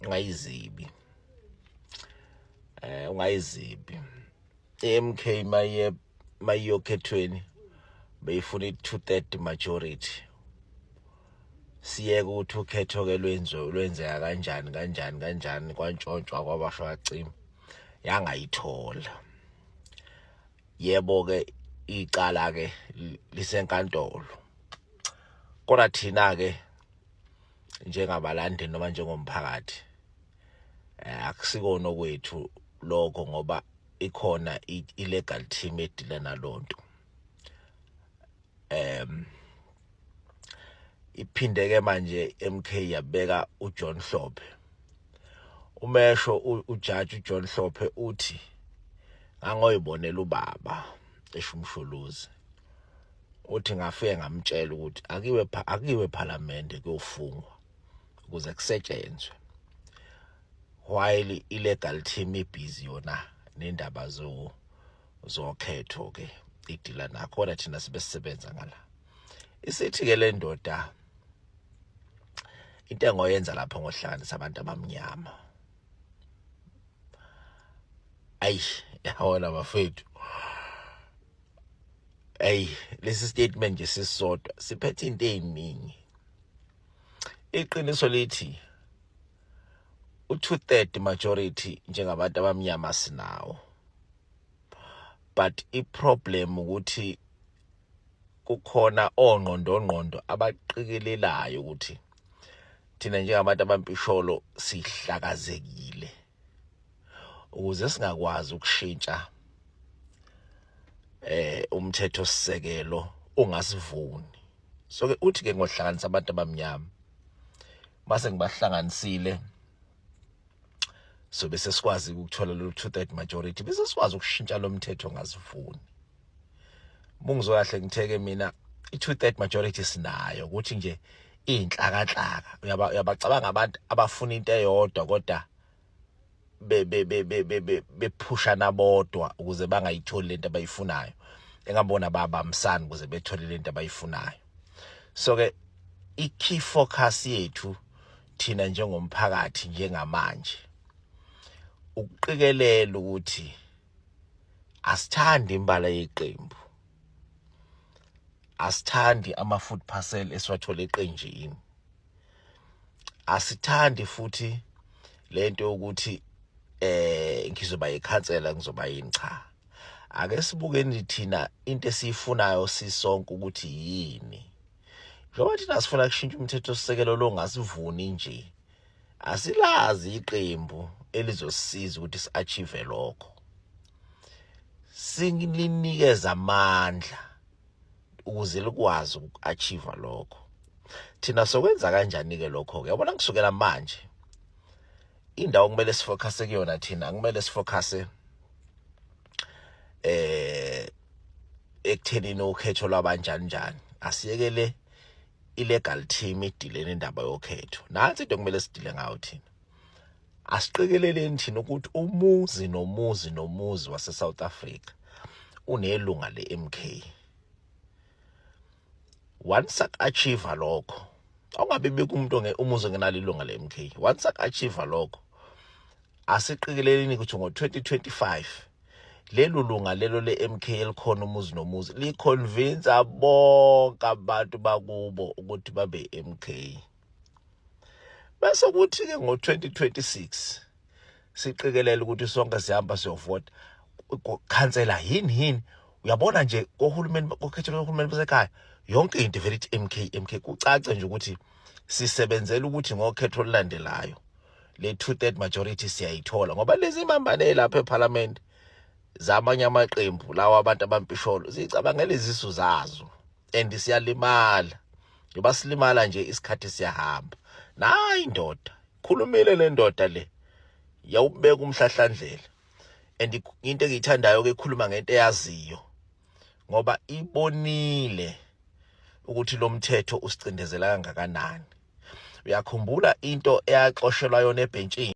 ungayizibi eh ungayizibi MK maye mayiyokhethweni beyifuna i230 majority siyeke ukuthi ukhetho ke lwenzo lwenzeka kanjani kanjani kanjani kwantshontshwa kwabasho kacima yangayithola yebo ke icala ke lisenkantolo kodwa thina ke njengabalandeli noma njengomphakathi eh, akusikona okwethu lokho ngoba ikhona i-legal team edila nalonto em iphinde ke manje MK yabeka uJohn Hlophe umesho ujaji uJohn Hlophe uthi ngangoyibonela ubaba eshumshuluzi uthi ngafike ngamtshela ukuthi akiwe akiwe parliament kuyofungwa ukuze kusetshenzwe while illegal team ibhizi yona nendaba zo zokhetho ke idila nakhona thina sibesebenza ngala isithi ke le ndoda into engoyenza lapho ngohlanganisa abantu abamnyama ayi yawona bafethu hey lesi statement nje sisodwa siphethe into eziningi iqiniso lithi u-two-third majority njengabantu abamnyama sinawo but i-problem ukuthi kukhona ongqondongqondo abaqikelelayo ukuthi thina njengabantu abampisholo sihlakazekile ukuze singakwazi ukushintsha eh umthetho sisekelo ungasivuni so ke uthi ke ngohlanganisa abantu abamnyama base ngibahlanganisile so bese sikwazi ukuthola lo two third majority bese sikwazi ukushintsha lo mthetho ngasivuni bungizwe kahle ngitheke mina i-two third majority sinayo ukuthi nje iy'nhlakanhlaka uyabacabanga abantu abafuna into eyodwa kodwa bephushana bodwa ukuze bangayitholi lento abayifunayo engabona babambisani ukuze bethole lento abayifunayo so ke i-key focus yethu thina njengomphakathi njengamanje ukuqikelela ukuthi asithandi imbala yeqembu asithandi ama food parcel esiwathola eqenjini asithandi futhi lento yokuthi eh ngizoba yikhansela ngizoba yini cha ake sibukeni thina into esiyifunayo sisonke ukuthi yini njengoba thina sifuna kushintsha umthetho sisekelo longasivuni nje asilazi iqembu elizosiza ukuthi siachieve lokho singilinikeza amandla ukuze likwazi ukuachieve lokho thina sokwenza kanjani ke lokho ke yabona kusukela manje indawo kumele sifocuse kuyona thina kumele sifocuse eh ekuthenini ukhetho lwabanjani njani asiyekele ilegal team idilene indaba yokhetho nansi into kumele sidile ngayo thina asiqikeleleni thina ukuthi umuzi nomuzi nomuzi wase South Africa unelunga leMK once achieve lokho awungabe bikho umuntu umuze ngenalo ilunga le MK once achieve lokho asiqikeleleni ukuthi ngo-2025 lelo lunga lelo le-MK elikhona umuzi nomuzi liconvinsa bonke abantu bakubo ukuthi babe-MK bese kuthi ke ngo-2026 siqikelela ukuthi sonke sihamba siyovota khansela yini yini uyabona nje kohulumeni kokhethelwa kohulumeni basekhaya yonke into vele ithi MK MK kucace nje ukuthi sisebenzela ukuthi ngokhetho olulandelayo le two third majority siyayithola ngoba lezi mambane lapha eParliament zamanye amaqembu lawa abantu abampisholo zicabangela izisu zazo and siyalimala ngoba silimala nje isikhathi siyahamba nayi indoda khulumile le ndoda le yawubeka umhlahlandlela and into engiyithandayo ke ikhuluma ngento eyaziyo ngoba ibonile ukuthi lo mthetho usicindezela kangakanani uyakhumbula into eyaxoshelwa yona ebhentshini